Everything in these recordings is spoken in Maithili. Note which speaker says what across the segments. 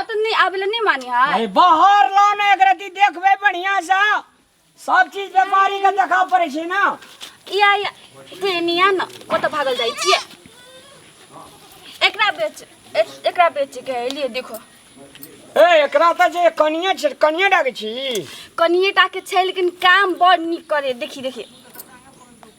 Speaker 1: अतनी आबेला नहीं मानी है अरे बाहर ला
Speaker 2: ना एकरा दी देखबे बढ़िया सा सब चीज व्यापारी के देखा पड़े छै ना या या
Speaker 1: ते निया न ओ तो भागल जाई छिए एकरा बेच ए- एकरा बेच के है, लिए देखो ए
Speaker 2: एकरा त जे कनिया छै कनिया डाके छी कनिए टा
Speaker 1: के छै लेकिन काम बड़ नीक करे देखी देखी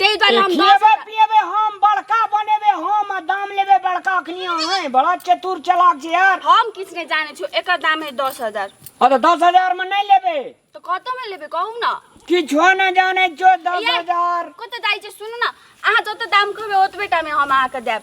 Speaker 1: ते द्वारे हम दस खिएबे पिएबे हम
Speaker 2: बड़का बनेबे हम आ दाम लेबे बड़का अखनी अहें बड़ा चतुर चालाक छै यार हम किछु नहि जानै छु
Speaker 1: एकर दाम है दस हजार आ तऽ दस हजार
Speaker 2: मे नहि लेबे तऽ कतऽमे लेबै
Speaker 1: कहू ने किछो नहि जानै
Speaker 2: छो दस ये, हजार कतऽ जाइ छै सुनू
Speaker 1: ने अहाँ जतऽ दाम कहबै ओतबे टामे हम अहाँके देब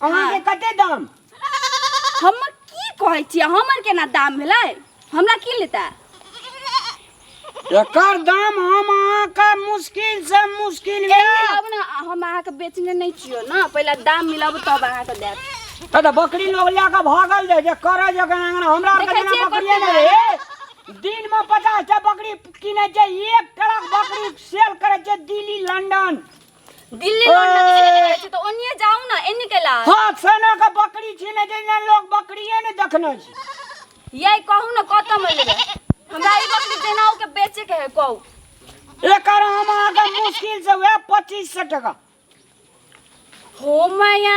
Speaker 2: अहाँके कते दाम हम
Speaker 1: की कहै छियै हमर केना दाम भेलै हमरा की लेता
Speaker 2: एकर दाम हम अहाँके मुश्किल से मुश्किल ए, आब ने हम
Speaker 1: अहाँके बेचने नहि छियो ने पहिले दाम मिलब तब अहाँके देब तऽ बकरी लोग
Speaker 2: लए कऽ भागल जाय जे करै जे कना अंगना हमरा आरके देखै जेना छियै बकरिए कते नहि रहै दिनमे पचास टा बकरी किनै छै एक ट्रक बकरी सेल करै छै दिल्ली लंदन दिल्ली रोड
Speaker 1: लग ओए। एने रहै छै तऽ ओनिए जाउ ने एने के लाल हाथ सना के
Speaker 2: बकरी छीने जइना लोग बकरिये ने देखने छी यही कहू ने कतऽ
Speaker 1: में लेबै हमरा ई बकरी देना के बेचे के है कहू एकर
Speaker 2: हम अहाँके मुश्किल से वएह पच्चीस सौ टका हो
Speaker 1: मैया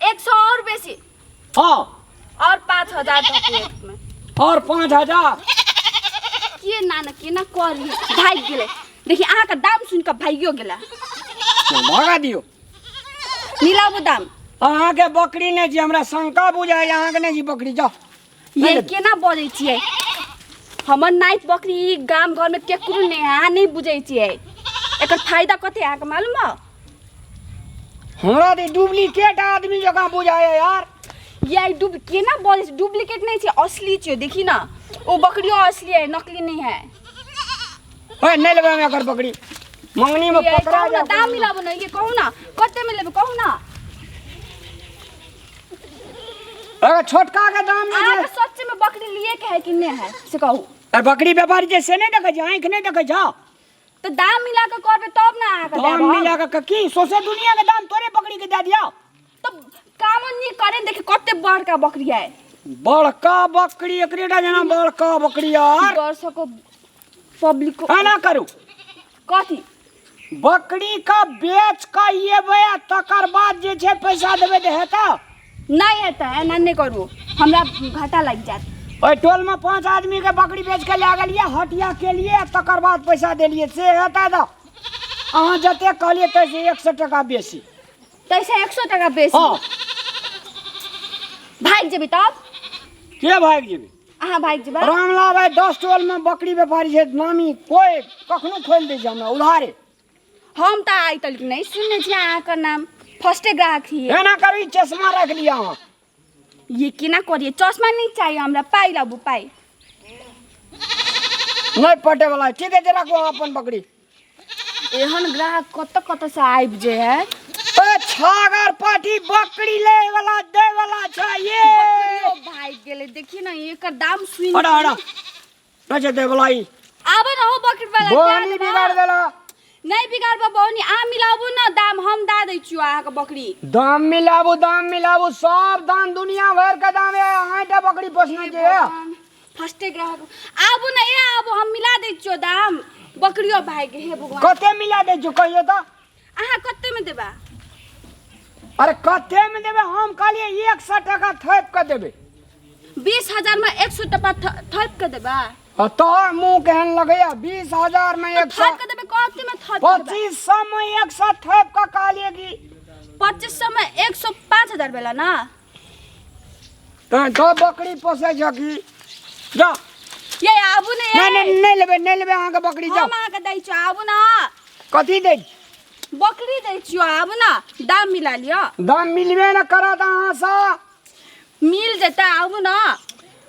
Speaker 1: एक सौ और बेसी हाँ और पाँच हजार दो प्लेट में
Speaker 2: और पाँच हजार
Speaker 1: के ना ना के ना कर भाग गेले देखी अहाँ का दाम सुन के भागियो गेला भगा
Speaker 2: दियो
Speaker 1: नीलाबू दाम अहाँ के बकरी
Speaker 2: ने जी हमरा शंका बुझाय अहाँ के ने जी बकरी जाओ ये केना
Speaker 1: बजै छियै हमर नाइत बकरी ई गाम घरमे केकरो नहि अहाँ नहि बुझै छियै एकर फायदा कते अहाँके मालूम बा
Speaker 2: हमरा तऽ डुप्लीकेट आदमी जकाँ बुझाइए यार ये ई डुब
Speaker 1: केना बजै छै डुप्लीकेट नहि छै असली छै देखी ना ओ बकरियो असली है नकली नहीं है
Speaker 2: ओए नहि लेबै हम एकर बकरी मङ्गनीमे ये पकड़ा कहू ना जाए दाम मिलाबो ना
Speaker 1: ये कहू ना कते में लेबै कहू ना
Speaker 2: अरे छोटका के दाम में अहाँके जे- सच्चे में बकरी लिए
Speaker 1: के है कि नहीं है से कहू अरे बकरी व्यापारी
Speaker 2: जे से नहीं देखे जा आँख नहीं देखे जा तो दाम
Speaker 1: मिला के करबे तब ना अहाँके दाम देब हम। मिला के की सोसे
Speaker 2: दुनिया के दाम तोरे बकरी के दे दिया तो
Speaker 1: काम नहीं करे देखे कते बड़का बकरी है बड़का
Speaker 2: बकरी एकरेटा जना बड़का बकरी यार वर्षको
Speaker 1: पब्लिक एना करू
Speaker 2: कथी
Speaker 1: बकरी
Speaker 2: का बेच के एबै आ तकर बाद जे छै पैसा देबै तऽ हेतौ नहि हेतै
Speaker 1: एना नहि करू हमरा घाटा लागि जायत ओहि टोलमे पाँच
Speaker 2: आदमीके बकरी बेच के लए गेलियै हटिया केलियै आ तकर बाद पैसा देलियै से हेतै तऽ अहाँ जते कहलियै ताहिसँ एक सए टाका बेसी ताहिसँ एक
Speaker 1: सए टाका बेसी
Speaker 2: हँ
Speaker 1: भागि जेबी तब के भागि
Speaker 2: जेबै अहाँ भागि जेबै
Speaker 1: रामला भाई दस
Speaker 2: टोल में बकरी व्यापारी है नामी कोई कखनो खोल दे हमरा उधारे हम तऽ
Speaker 1: आइ तक नहि सुनने छी अहाँके नाम फर्स्टे ग्राहक ही एना करी चश्मा
Speaker 2: रख लिया अहाँ ये
Speaker 1: केना करिए चश्मा नहि चाहिए हमरा पाइ लाबू पाइ
Speaker 2: नहीं पटे वाला है। ठीक है जे रखो अहाँ अपन बकरी एहन
Speaker 1: ग्राहक कत कत से आबि जे है ए छागर
Speaker 2: पाठी बकरी ले वाला दे वाला छै ये ओ भाई
Speaker 1: गेले देखिए ना एकर दाम सुनि हड़ा हड़ा
Speaker 2: नजे दे वाला ई आबे ना हो बकरी
Speaker 1: वाला बोनी बिगाड़ देला
Speaker 2: नहीं बिगाड़बो
Speaker 1: बोनी आ मिलाबू ना दाम हम दा दै छियो अहाँ के बकरी दाम मिलाबू
Speaker 2: दाम मिलाबू सब दाम दुनिया भर के दाम है आटा बकरी पोसने के है। फर्स्टे ग्राहक
Speaker 1: आबू ना ए आबू हम मिला दै छियो दाम बकरियो भाग गेल हे भगवान कते मिला दे जो कहियो
Speaker 2: तो अहाँ कते
Speaker 1: में देबा
Speaker 2: अरे कते में देबे हम कहलिए एक सौ टका थोप के देबे बीस हजार
Speaker 1: में एक सौ टका थ- थप के देबा आ तोहर मुंह
Speaker 2: केहन लगैया बीस हजार में एक सौ थप के देबे कते में
Speaker 1: थप के देबा पच्चीस सौ में एक
Speaker 2: सौ थोप के कहलिए कि पच्चीस सौ में
Speaker 1: एक सौ पाँच हजार भेला ना
Speaker 2: तहन तो बकरी पोसै छ कि जा ये
Speaker 1: आबू ने नहीं नहीं नहीं लेबे नहीं लेबे अहाँ
Speaker 2: के बकरी जाओ हम अहाँ के दै छियो आबू
Speaker 1: ना कथी दे
Speaker 2: बकरी
Speaker 1: दै छियो आबू ना दाम मिला लियो दाम मिलबे न
Speaker 2: करत अहाँ सा मिल जेतै
Speaker 1: आबू ना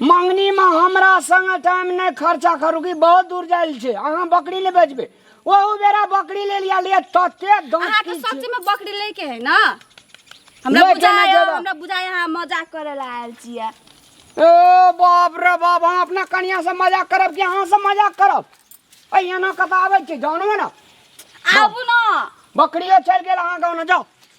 Speaker 1: मंगनी
Speaker 2: में हमरा संग टाइम नहीं खर्चा करू कि बहुत दूर जाइल छै अहाँ बकरी ले बेचबे ओहू बेरा बकरी ले लिया ले तते अहाँ दांत के की सच में बकरी लेके
Speaker 1: है
Speaker 2: ना
Speaker 1: हमरा लेके
Speaker 2: बुझाया ना जेबा। हमरा
Speaker 1: बुझाया अहाँ मजाक करे ला आयल छियै ए
Speaker 2: बाप रे बाप हम अपना कनिया से मजाक करब कि अहाँ से मजाक करब ऐ एना कत आबै छै जानबे ना आबू ना
Speaker 1: बकरियो चलि
Speaker 2: गेल अहाँ गाँव ने जाउ